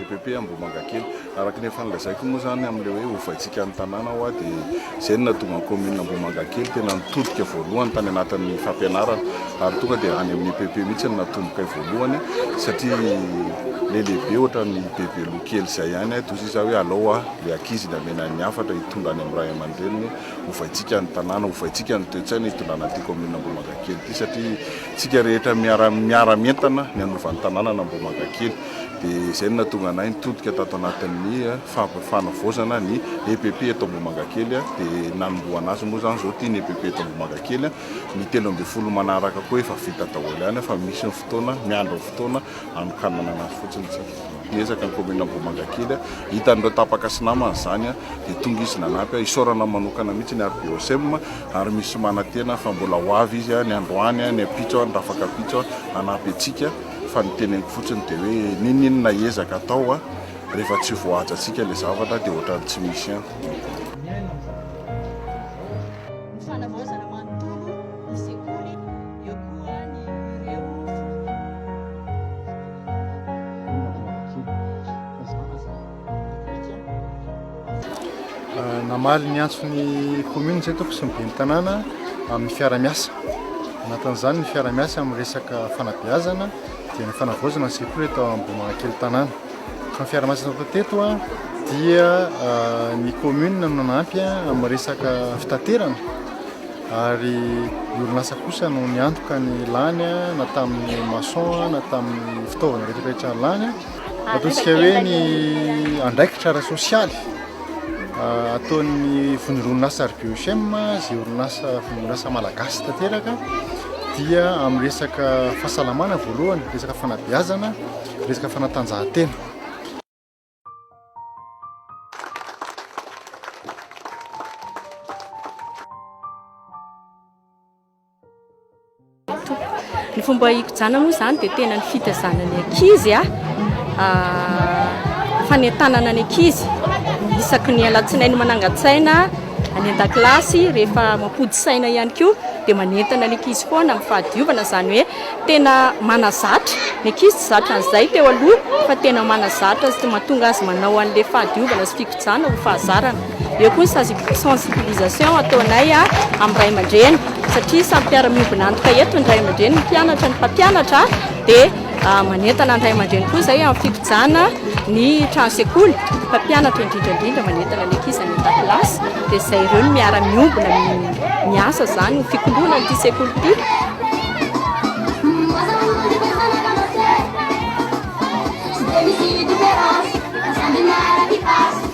EPP Ambohimangakely. Araka ny efa nolazaiko moa izany amin'ilay hoe ovaintsika ny tanàna hoa dia izay no nahatonga ny kaominina Ambohimangakely tena nitodika voalohany tany anatin'ny fampianarana ary tonga dia any amin'ny EPP mihitsy no natombokay voalohany satria ilay lehibe ohatran'ny bebeloha kely izay ihany dia hoy izy hoe alao hoa ilay ankizy ny hamena ny hafatra hitondra any amin'ny ray aman-dreniny ovaintsika ny tanàna ovaintsika ny toe-tsaina hitondrana an'ity kaominina Ambohimangakely ity satria tsika rehetra miara miara mientana ny hanova ny tanàna an'Ambohimangakely dia izay no nahatonga anay nitodika tato anatin'ny fanavaozana ny EPP eto Ambohimangakely, dia nanombohana asa moa izany izao ity ny EPP eto Ambohimangakely, ny telo ambin'ny folo manaraka koa efa vita daholo ihany fa misy ny fotoana, miandry ny fotoana hanokanana anazy fotsiny isika. Miezaka ny kaominina Ambohimangakely, hitan'ireo tapaka sy namany izany dia tonga izy nanampy ahy, isaorana manokana mihitsy ny RBOSM ary misy manantena fa mbola ho avy izy ny androany, ny ampitso, ny rafak'ampitso hanampy antsika. fa ny teneniko fotsiny dia hoe ninoninona ezaka atao a rehefa tsy voahajantsika ilay zavatra dia ohatran'ny tsy misy ihany. Namaly ny antso ny commune izay toko sy ny ben'ny tanàna amin'ny fiaramiasa. Anatin'izany ny fiaramiasa amin'ny resaka fanabeazana dia ny fanavaozana ny sekoly eto Ambohimanakely tanàna. Fa ny fiaramiasa natao teto dia ah, ny commune no nanampy amin'ny resaka fitaterana ary ny orinasa kosa no niantoka ny lany na tamin'ny maçon na tamin'ny fitaovana rehetra rehetra lany. Ataontsika hoe ny andraikitra ara-sosialy ataon'ny vondron'orinasa RBOHM izay orinasa vondron'orinasa malagasy tanteraka dia amin'ny resaka fahasalamana voalohany, resaka fanabeazana, resaka fanatanjahantena. Ny fomba hikojana moa izany dia tena ny fitazana ny ankizy, ah, ah, fanentanana ny ankizy isaky ny alatsinainy manangan-tsaina any an-dakilasy rehefa mampody saina ihany koa dia manentana ny ankizy foana amin'ny fahadiovana izany hoe tena manazatra ny ankizy tsy zatra an'izay teo aloha fa tena manazatra sy mahatonga azy manao an'ilay fahadiovana sy fikojana ho fahazarana Eo koa ny sensibilisation ataonay amin'ny ray aman-dreny satria samy mpiara-miombona antoka eto ny ray aman-dreny, ny mpianatra, ny mpampianatra dia manentana ny ray aman-dreny koa izay amin'ny fikojanana ny trano sekoly, ny mpampianatra indrindra indrindra manentana ny ankizy any an-dakilasy dia izay ireo no miara-miombona miasa izany ho fikoloana an'ity sekoly ity.